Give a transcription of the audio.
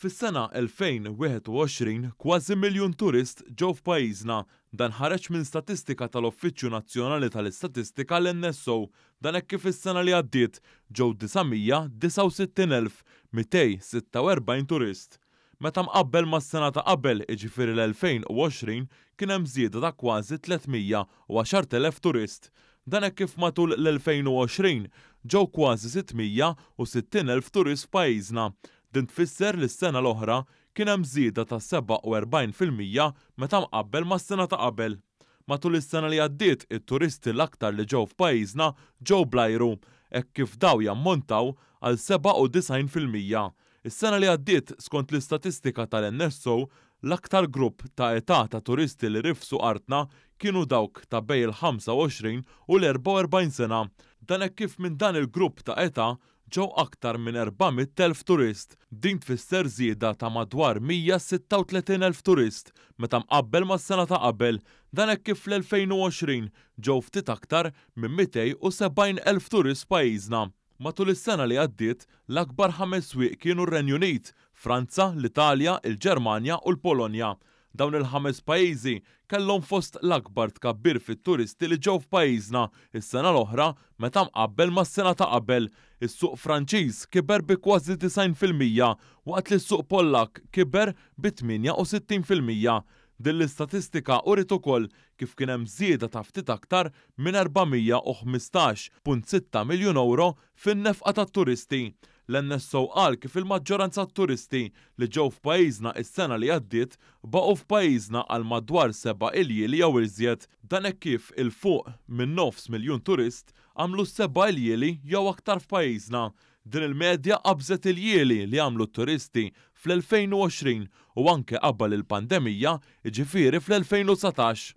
Fis-sena 2021, kważi miljun turist ġew f'pajjiżna. Dan ħareġ minn statistika tal-Uffiċċju Nazzjonali tal-Istatistika, l-NSO. Dan hekk kif is-sena li għaddiet ġew 969,246 turist. Meta mqabbel mas-sena ta' qabel, jiġifieri l-2020, kien hemm żieda ta' kważi 310,000 turist. Dan hekk kif matul l-2020 ġew kważi 660,000 turist f'pajjiżna. Din tfisser li s-sena l-oħra kien hemm żieda ta' 47 fil-mija meta mqabbel mas-sena ta' qabel. Matul is-sena li għaddiet, it-turisti l-aktar li ġew f'pajjiżna ġew bl-ajru, hekk kif daw jammontaw għal 97 fil-mija. Is-sena li għaddiet, skont l-istatistika tal-NSO, l-aktar grupp ta' età ta' turisti li rifsu artna kienu dawk ta' bejn il-25 u l-44 sena. Dan hekk kif minn dan il-grupp ta' età ġew aktar minn 400,000 turist. Din tfisser żieda ta' madwar 136,000 turist meta mqabbel mas-sena ta' qabel. Dan hekk kif fl-2020 ġew ftit aktar minn 270,000 turist f'pajjiżna. Matul is-sena li għaddiet, l-akbar ħames swieq kienu r-Renju Unit, Franza, l-Italja, il-Ġermanja u l-Polonja. Dawn il-ħames pajjiżi kellhom fost l-akbar tkabbir fit-turisti li ġew f'pajjiżna s-sena l-oħra meta mqabbel mas-sena ta' qabel. Is-suq Franċiż kiber bi kważi 90 fil-mija waqt li s-suq Pollakk kiber bi 68 fil-mija. Din l-istatistika uriet ukoll kif kien hemm żieda ta' ftit aktar minn 415.6 miljun ewro fin-nefqa tat-turisti. L-NSO qal kif il-maġġoranza t-turisti li ġew f'pajjiżna is-sena li għaddiet baqgħu f'pajjiżna għal madwar seba' iljieli jew iżjed. Dan hekk kif 'il fuq minn nofs miljun turist għamlu s-seba' iljieli jew aktar f'pajjiżna, Din il-medja qabżet il-jieli li għamlu t-turisti fl-2020 u anke qabel il-pandemija, jiġifieri fl-2019.